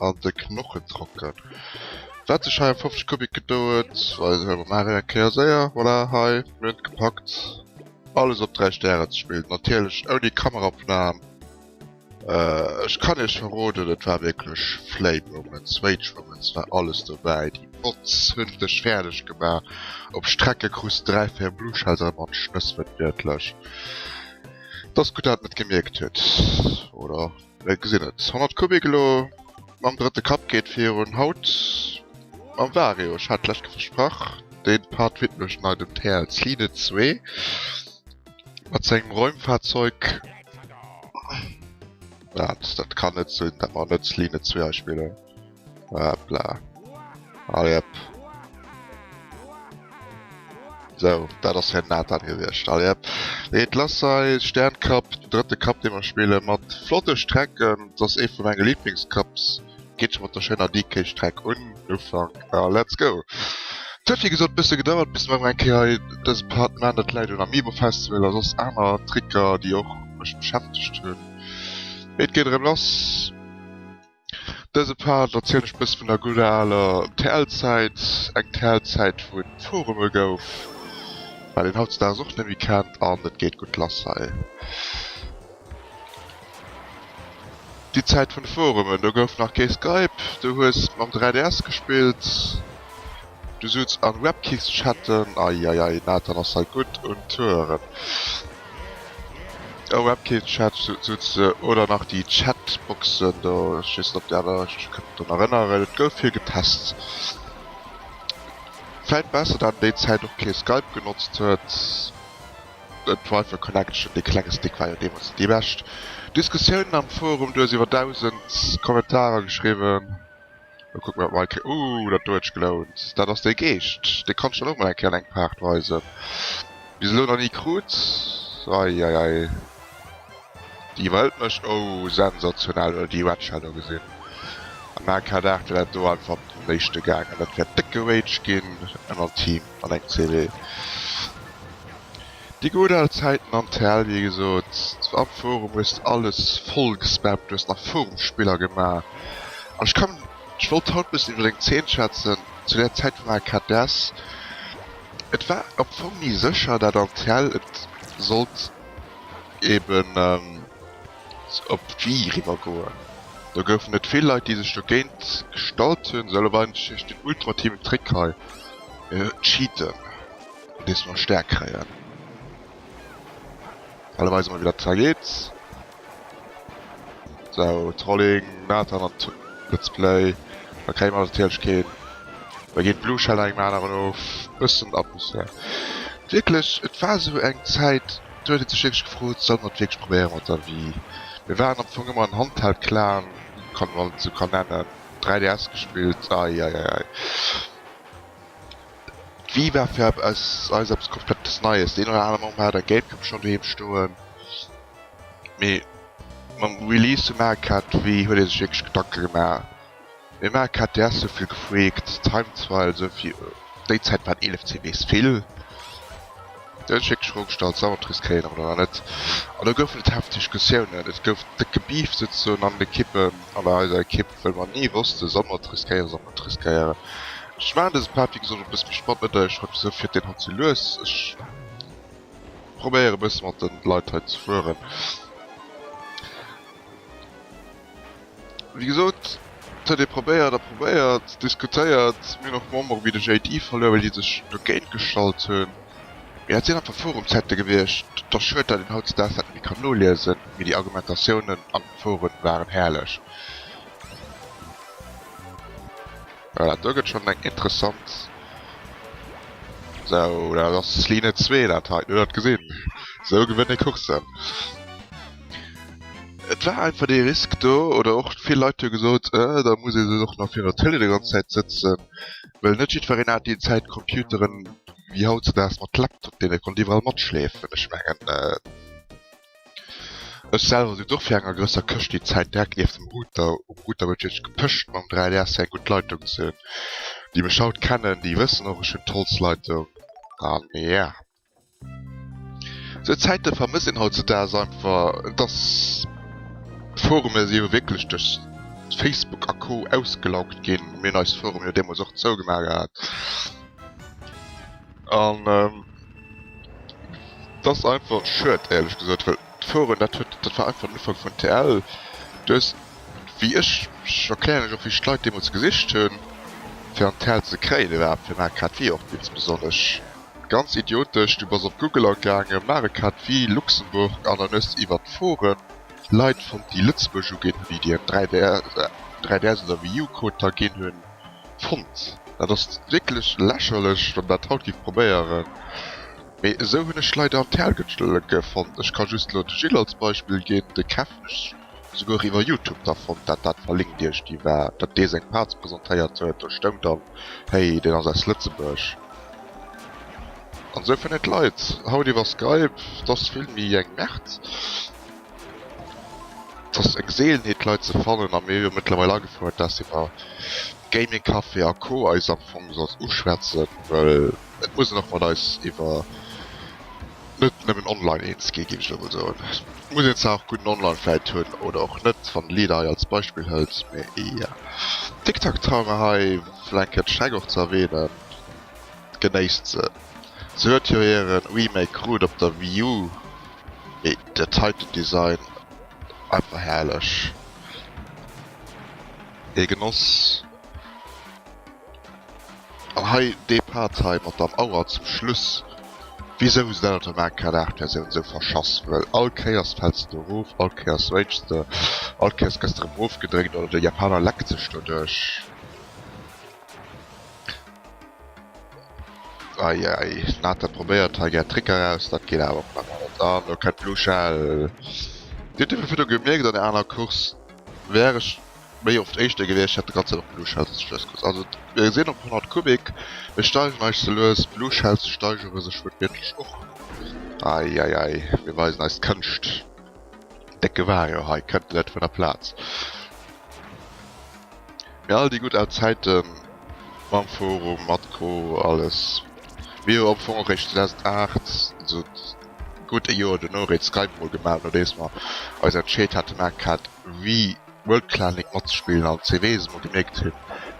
an de Knochen trocken. Waat sech hei em 50 Kubik gedouert, weisen ech ewech nach eng Kéier séier. Voilà, hei, mir hun et gepackt alles op 3 Stären ze spillen, natierlech ouni Kameraopnahm. Ech kann iech verroden, et war wierklech Flame Moments, Rage Moments, war alles dobäi, déi Bots hun dech färdeg gemaach, op Strecke krus de 3, 4 Blue Shells erëm an d'Schnëss, wërtwiertlech, dass gutt dat net gemierkt huet, oder? Ech gesinn et. 100 Kubik elo mam drëtte Kapp geet virun. Haut mam Vario. Ech hat d'lescht Kéier versprach, dee Part widmen ech nei dem TLCine 2 mat sengem Räumfahrzeug. Dat kann net sinn, dat mer net Line 2 hei spillen. Hopla. Allez, hop. So, dat ass hir Nathan gewiescht. Allez, hop. Nee, et lass sei Sterncup, den drëtte Cup, dee mer spille mat flotte Strecken. Dat ass ee vu menge Lieblingscups. Geet scho mat der schéiner DK-Streck un. Ufank. A let's go! Et huet wéi gesot e bësse gedauert, bis mer emol eng Kéier hei dëse Part gemaach hunn. Dat läit un Amiibo Festival a soss aner Tricker, déi och mech beschäftegt hunn. Mee et geet erëm lass. Dëse Part erzielen ech bësse vun der gudder aler TL-Zäit, eng TL-Zäit wou et Forume gouf, wat een hautzedags och net méi kennt an et geet gutt lass hei. Déi Zäit vun de Forumen, do gouf nach kee Skype, du hues mam 3DS gespillt. Du sutz an Webkicks chatten, eieiei Nathan ass hei gudd un Touren. An Webkicks chat sutz de oder nach déi Chatboxen do, ech wees net op déi aner, ech mech kënnen drun erënneren et gouf vill getest. Vläit besser dat en déi Zäit och kee Skype genotzt huet, d'Wifi Connection, dee klenge Stick war jo deemols net déi bescht. Diskussiounen am Forum, du hues iwwer 1000 Kommentarer geschriwwen. Elo kucken mer dat mol. Ooh, dat do huet sech gelount. Dat ass dee Geescht. Dee kanns de dann och mol eng Kéier an engem Part weisen. Bis elo nach ni krut. Eieiei. Déi iwwerhëlt mech. Ooh, sensationell. Huel déi Wedge hat. Ugesinn. Am AK-Dart wär dat do einfach op den Léischte gaangen. Dat wär décke Rage ginn. Ënnert Team an engem CW. Déi gudd al Zäiten an TL wéi gesot am Forum hues de alles voll gespammt, du hues nach Forum Spiller gemaach an ech kann, ech wollt haut bëssen iwwer deng Zeen schwätzen zu där Zäit vum AKDS, et war am Fong ni sécher dat an TL et sollt eben op d'Wii eriwwer goen. Do goufen et vill Leit déi sech dogéint gestallt hunn, sou elo war ech den ultimativen Trick hei, mir cheaten. Dees mer staark kréien. Hei weise mer wéi dat zwar geet. Sou, Trolling, Nathan an Let's Play. Da kréie mer natierlech keen. Da geet Blue Shell an engem aneren of. Bëssen Atmosphär. Wierklech, et war sou eng Zäit, do huet ee sech wierklech gefrot, solle mer et wierklech probéiere mat der Wii? Mir waren am Fong ëmmer en Handheld-Clan, kann een alt esou kann nennen. 3DS gespillt. Eieiei. D'Wii war fir eis eis eppes komplettes Neies. Deen oder anere Mom hat eng Gamecube schonn doheem stoen, mee mam Release vu Mario Kart Wii huet ee sech wierklech Gedanke gemaach. Mee Mario Kart DS huet vill gefreakt, Time Trial esou fir déi Zäit waren 11 CBs vill. Den tschéckesche Rock Star Zalotris kréien awer dann nach net an do goufen et hefteg Diskussiounen. Et gouf déck gebeeft souzesoen an den Ekippen an der eiser Ekipp, well mer ni wossten, solle mer et riskéieren, solle mer et riskéieren. Ech maachen dëse Part, wéi gesot, e bësse méi spannend, net datt ech haut wisou fiert deen haut sou lues. Ech probéieren e bësse mat de Leit hei ze fueren. Wéi gesot, et huet ee probéiert a probéiert, diskutéiert. Mir hunn och Membere wéi de JD verluer, well déi sech dogéint gestallt hunn. Mee dat sinn einfach Forumschatte gewiescht. Et ass schued, datt een hautzedaags dat net méi kann noliesen, mee déi Argumentatiounen an de Foren waren herrlech. Voilà, do gëtt schonn eng interessant. Sou, dat ass Ligne 2, dat hei. Hutt Der dat gesinn? Sou gewënnt ee Courssen. Et war einfach dee Risk do oder och vill Leit hu gesot, äh, da muss ee se och nach virer Tëlee déi ganz Zäit sëtzen. Well net jiddwereen hat déi Zäit Computeren wéi hautzedaags mat Laptop, deen e konnt iwwerall matschleefen. Ech mengen, ech selwer sinn och fir eng a grësser Këscht déi Zäit direkt nieft dem Router, um Router huet wierklech gepëscht mam 3DS, fir eng gutt Leitung ze hunn. Déi mech haut kennen, déi wëssen och, ech hunn d'Holzleitung an, ja. Sou Zäite vermësst een hautzudags einfach, dass d'Forume si jo wierklech duerch Facebook a Co ausgelaugt ginn, mir hunn eis Forum jo deemools och zougemaach gehat, an et ass einfach schued éierlech gesot, well d'Foren dat huet, dat war einfach den Ufank vun TL. Du hues, wéi ech, ech erklären iech och wéi ech d'Leit deemools gesicht hunn fir an TL ze kréien iwwerhaapt, fir mer hat grad wéi och insbesonnesch. Ganz idiotesch, du bass op Google agaangen, maach e Cat vue Luxembourg an dann hues de iwwert d'Foren Leit fonnt déi Lëtzebuerg uginn hunn, déi dir en 3DS oder Wii U Code da ginn hunn. Fonnt. Dat ass wierklech lächerlech wann dat haut giff probéieren, mee esou hunn ech d'Leit an d'Häergëtscheleke fonnt. Ech ka just elo de Gilles als Beispill ginn, de Kev, Souguer iwwer Youtube, da fonnt dat dat verlinkt iech déi war, datt dee seng Parts presentéiert huet, do stoung dann, hey deen ass aus Lëtzebuerg. An esou fënnen d'Leit haut iwwer Skype, t'ass vill méi eng Merd, t'ass eng Seelenheet d'Leit ze fannen a mir hu jo mëttlerweil agefouert, dass iwwer Gaming Café a Co eis am Fong sollst uschwätzen, well Et muss een och mat eis iwwer net nëmmen online eens ginn, géif ech elo mol soen. Et muss een zwar och gudden Online vläit hunn oder och net, wann LEDA hei als Beispill hëlt, mä eeër Tic-Tac-Toe mer hei vläicht kent schränk och ze erwähnen, genéisst se. Se huet jo hiren Remake krut op der Wii U, mee dat heiten Design einfach herrlech, ee Genoss. An hei dee Part hei mat der Mauer zum Schluss. Wisou se dat op der Mancard 8 Versioun esou verschass? Well all Kéiers fäls de do erof, all Kéiers ragest de, all Kéiers gëss de erëm ofgedréckt oder de Japaner leckt sech doduerch. Eieiei, Nata probéiert hei gär Trick eraus, dat geet awer op emol net an. Lo kennt d'Blue Shell. Dir hutt dofir virdru gemierkt an der aner Course, wär ech Méi oft éischter gewiescht hätt de Grazien op Blue Shells sech lues gelues. Also mir sinn op 100 Kubik, mir steigen eis ze lues, Blue Shells steigere sech wuertwiertlech och. Ei ei ei, mir weisen eis Kënscht. Décke Wario hei kënnt net vun der Plaz. Mee all déi gutt al Zäiten mam Forum mat Co. Alles mir hu am Fong och réischt 2008, also gutt ee Joer dono, Red Skype emol gemaach nodeems mer eis entscheet haten Arcade Wii World Clanic matzespillen an CW se mol gemierkt hun.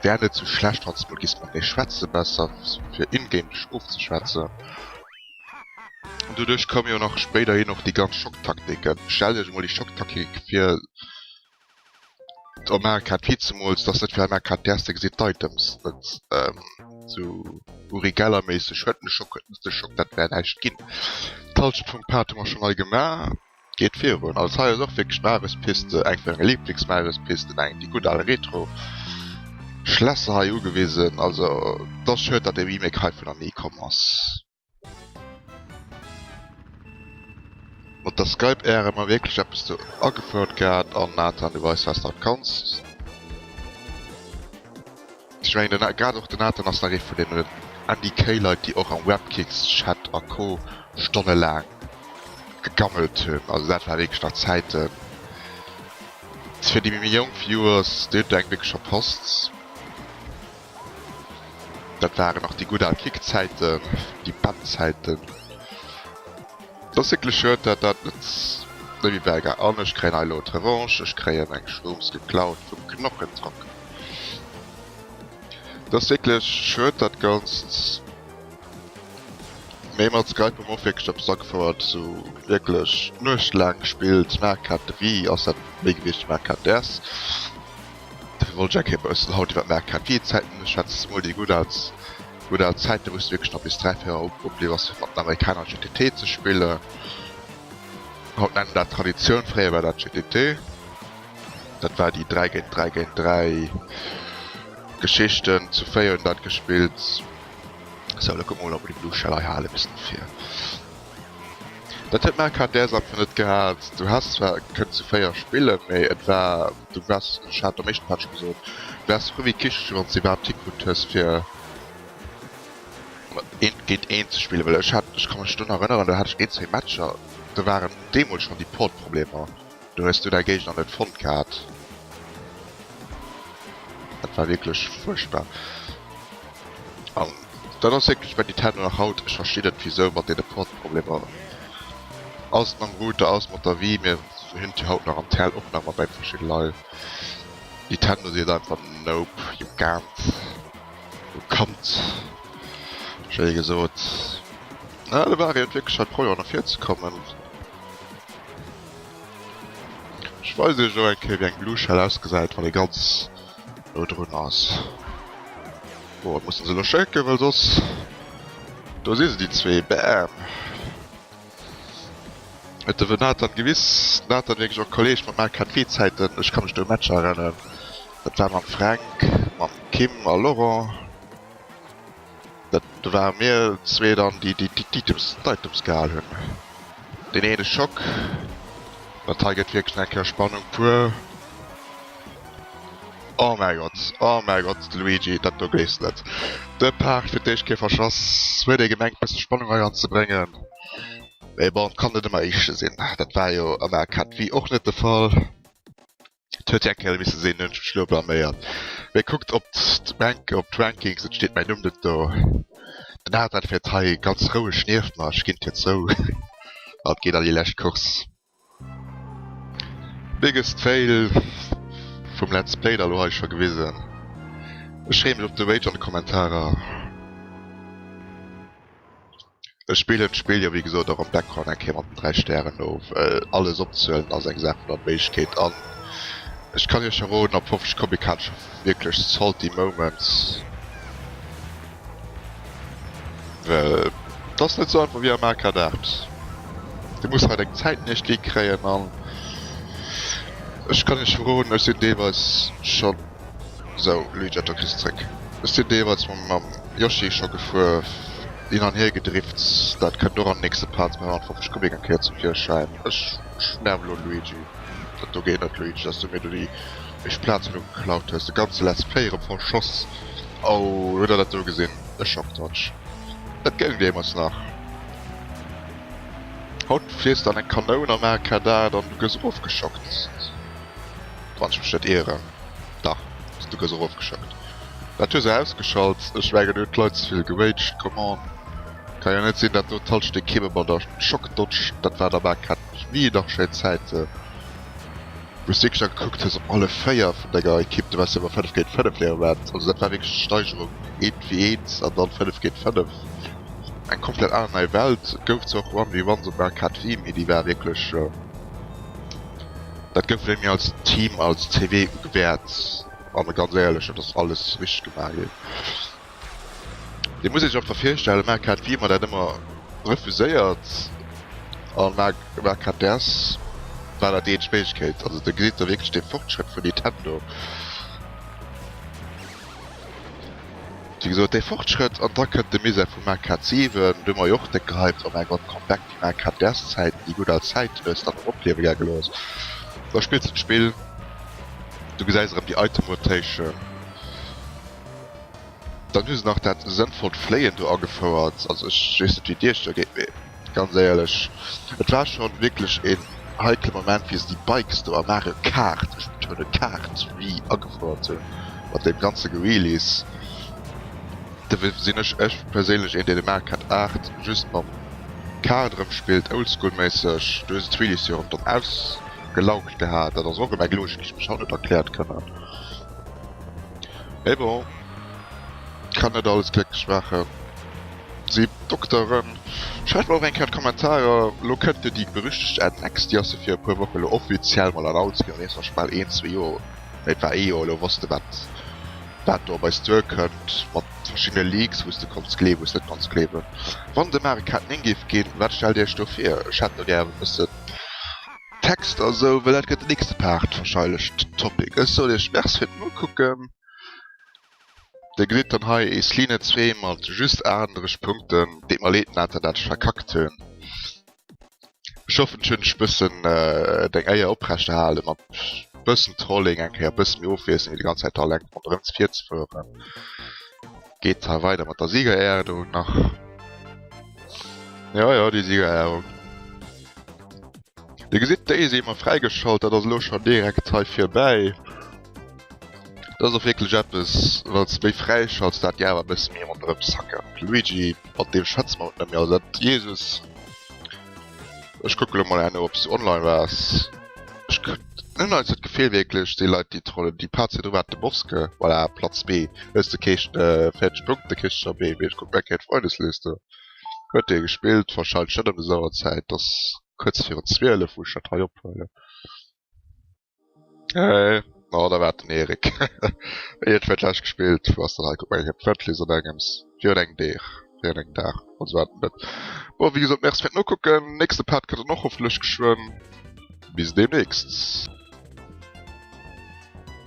Wär net sou schlecht wanns mol giss mat mir schwätzen, besser fir in-game dech ofzeschwätzen. An doduerch koumen jo nach spéiderhin och déi ganz Schocktaktiken. Stellt iech emol déi Schocktaktik fir der maacher Kaart Vize Mools dass net fir all maacher Kaart Dir erste gesitt d'Items net sou Uri Geller méisseg huet den Schock huet net de Schock dat wär näischt ginn. D'Halschent vum Pad hu mer schon nei gemaach. Geet virun, also hei ass och wierklech Mares-Piste, eng vu senge Liblingsmares-Pisten, eng déi gutt al retro Schlässer hei ugewisen. Also et ass schued, datt de Remake hei vun an ni komm ass. Mat der Skype Äre mer wierklech eppes do agefouert gehat an Nathan du weis wats der kans. Ech mengen den A, grad och den Nathan ass nach ee vun deenen Andy K-Leit déi och am Webkicks Chat a Co stonnelaang gegammelt hunn. Also dat war wierklech nach Zäiten fir déi méi jonk Viewers, déi hunn do eng wierklech verpasst. Dat waren nach déi gutt al Kick Zäiten, déi Band Zäiten. Et ass wierklech schued dat dat net méi bäi war. An ech kréien hei elo d'Revanche, ech kréien eng Schnoms geklaut vum Knochentrock. Dass wierklech Schrëtt dat ganzt méi mat Skype mof wierklech op Sack fouert sou wierklech Nuecht laang gespillt Marc hat wéi ass dat wéi gewiescht Marc hat ders dofir wollt ech enke kéier baussen haut iwwer Marc hat wéi Zäiten ech hat mol déi gutt als gutt al Zäiten wou s de wierklech nach bis 3 4 Auer opbliwwen ass fir mat den Amerikaner GTT ze spillen. Haut nennen dat Traditioun fréier war dat GTT. Dat war déi 3 géint 3 géint 3 Geschichten zu 4 hunn dat gespillt. So lo komm mol op de Blue Shell hei hale bëssen fir. Dat huet mer grad däers einfach net gehat. Du has zwar kënnt zu 4 spille méi et war du wars ech hat am éischte Match gesot wars frou wéi Kicheche wann s de iwwerhaapt hikrutt hues fir eent géint eent ze spillen. Well ech hat ech ka mech dunn erënneren, do hat ech een zwee Matcher do waren deemools schonn déi Portproblemer. Do hues du däi Géigner net fonnt gehat. Dat war wierklech fuerchtbar. An dat ass wierklech bei Nintendo nach haut, ech verstinn net wisou, mat deene Portproblemer, ass et mam Router, ass et mat der Wii, mir hunn et jo haut nach am TL och nach mat bei verschidde Leit. Nintendo seet einfach Nope, you can't, you can't, schéi gesot. Ah, de Wario huet wierklech haut Problemer no vir ze kommen. Ech weisen iech och eng Kéier wéi eng Blue Shell ausgesäit wann ee ganz no drun ass. Bon et mussen se elo schécken well soss. Do si se déi zwee, bam! Et def en Nathan gewiss, Nathan wierklech och Kolleg mat main KT Zäiten, ech ka mech do u Matcher erennen, dat war mam Fränk, mam Kim a Laurent. Do ware mir zwee dann, déi d'Items gehal hunn. Deen eene Schock. Dat hei gëtt wierklech nach eng Kéier Spannung puer. Oh mäi Gott, oh mäi Gott, de Luigi, dat do géss net. De Paart fir d'éischt Kéier verschass. Huet ee gemengt, e bësse Spannung hei anzebréngen. Mee bon, et kann net ëmmer Éischte sinn. Dat war jo am Arcade Wii och net de Fall. Et huet eng Kéier misse sinn, hunn ech mech elo blaméiert. Mee kuckt op d'Bank, op d'Rankings, et steet mäin Numm net do. Den Adrian fäert hei ganz roueg nieft mer, ech ginn d'Tier zou a geet an déi lescht Course. Biggest fail vum Let's Play da lo hei scho gewisen. Ech freeë mech op de Rage an de Kommentarer. Ech spillen d'Spill jo wéi gesot och am Background eng Kéier mat den 3 Stären no, well alles opzehuelen ass eng Saach vun Onméiglechkeet an ech kann iech verroden, op 50 Comic hat ech scho wierklech salty moments, well et ass net sou einfach wéi am Arcade 8. Dir musst hei deng Zäiten iechtéi kréien an ech kann iech verroden, ech sinn deelweis scho So Luigi, do kriss zréck. Ech sin deemools mam Yoshi scho gefuer, hin an hier gedrift, dat kënnt och am nächste Part 250 Kubik eng Kéier zum Virschäin. Ech nerve elo Luigi, dat do geet net Luigi, dass du mir do déi meescht Plazen do geklaut hues, de ganze Let's Play erëm verschoss. Oh, huet der dat do gesin? E Schocktouch, dat goung deemools nach. Haut fliess de an eng Kanoun an Arcade an du gëss erofgeschockt. Wann ech mech net ieren, dach s du gëss erofgeschëckt. Dat hues ausgeschalt, ech mengen huet d'Leit zevill geraged, come on. Kann jo net sinn dat doten all Stéck Kimme mat der Schock dotscht, dat war der bal kett mech nie, nach schéin Zäiten wous du wierklech da gekuckt hues op alle 4 vun denger Ekipp, du wars jo ëmmer 5 géint 5 hire Wert, also dat war wierklech d'Steigerung eent ewéi eent an dann 5 géint 5, eng komplett aner nei Welt. Et gouf zwar och 1v1 op Arcade Wii, mee déi war wierklech. Dat gëtt wéi mir als Team als CW ugewäert an e ganz éierlech, dat ass alles richteg gemaach ginn. Dir musst Iech einfach virstellen, Marc hat wéi ëmmer dat ëmmer refuséiert a Marc hat däers war dat déi eenzeg Méiglechkeet. Also do gesitt Der wierklech de Fortschrëtt vun Nintendo. Wéi gesot, dee Fortschrëtt an da kënnt de Mise vum Marc hat 7, do hu mer jo och déck gehypt, oh mäi Gott, Comeback. Mä grad däers Zäiten, déi gutt al Zäit, wou s de dat nach opliewe gaangen ass, da spills de d'Spill, du gesäis erëm déi Item-Rotation, dann hu se nach dat sënnvollt Fléien do agefouert. Also ech weess net, wéi Dir Iech do gétt, mee ganz éierlech, et war scho wierklech een heikle Moment, wéi se déi Bikes do a Mario Kart, ech betounen Kart, Wii agefouert hunn, mat deem ganze Gewheelies. Dofir sinn ech ech perséinlech een dee de Mario Kart 8 just mam Kart erëm spillt, oldschool méisseg. Du hues et d'Wheelies jo erëm dann ausgelaugt gehat, dat ass och erëm eng Logik déi ech mech haut net erkläert kënnen. Mais bon, kann net alles glécklech maachen. Si Dokteren, schreift mer och eng Kéier an d'Kommentarer, elo kënnt jo déi berüchtegt Annex, déi ass jo fir e puer Woche elo offiziell mol announced ginn, an eenzeg mol fir bal een, zwee Joer, nee et war ee Joer elo, wosst de wat. Wat do op eis duer kënnt, mat verschiddene Leaks, wou s de konns gleewen, wou s net konns gleewen. Wann et e Mario Kart 9 géif ginn, wat stellt Dir Iech do vir? Ech hätt do gär e bëssen Text a sou, well dat gëtt den nächste Part wahrscheilech den Topic. Ech soen Iech Merci fir den Ukucken. Dir gesitt dann hei Eesline 2 mat just 38 Punkten. Deet mer leed, Nathan, dat ech verkackt hunn. Ech hoffen ech hunn ech bëssen deng Éier oprechterhale mat bëssen Trolling eng Kéier bëssen méi ofwiesselen wéi déi ganz Zäit do eleng ronderëm ze vir ze fueren. Geet hei weider mat der Siegerehrung do nach. Jo jo déi Siegerehrung. Dir gesitt déi si ëmmer fräigeschalt, dat ass elo schonn direkt hei virbäi. Dat ass och wierklech eppes, wat se méi fräischallt, dat Dir awer e bësse méi ronderëm zackert. Luigi, Mat deem schwätze mer haut net méi, also dat, Jesus. Ech kucke lo mol herno, ob s du online waars. Ech kr. Hunn neits dat Gefil wierklech, déi Leit, déi trollen, déi patzen jo domat de Boske. Voilà, Platz B. Hues de kee fäerdege Punkt, da kriss de nach méi. Mee ech kucken, Backgate Freundesliste huet dee gespillt. Warscheinlech net ëm des Auerzäit, 't ass kuerz virun zwielef, wou ech dat hei ophuelen. Hey, oh, da war den Erik. Ey, et wird gleich gespielt. Was dann halt, guck mal, ich hab Viertel so Games. Für den Dach. Für den Dach. Und so weiter. Boah, wie gesagt, merci für nur gucken. Nächste Part könnt ihr noch hoffentlich geschwind. Bis demnächst.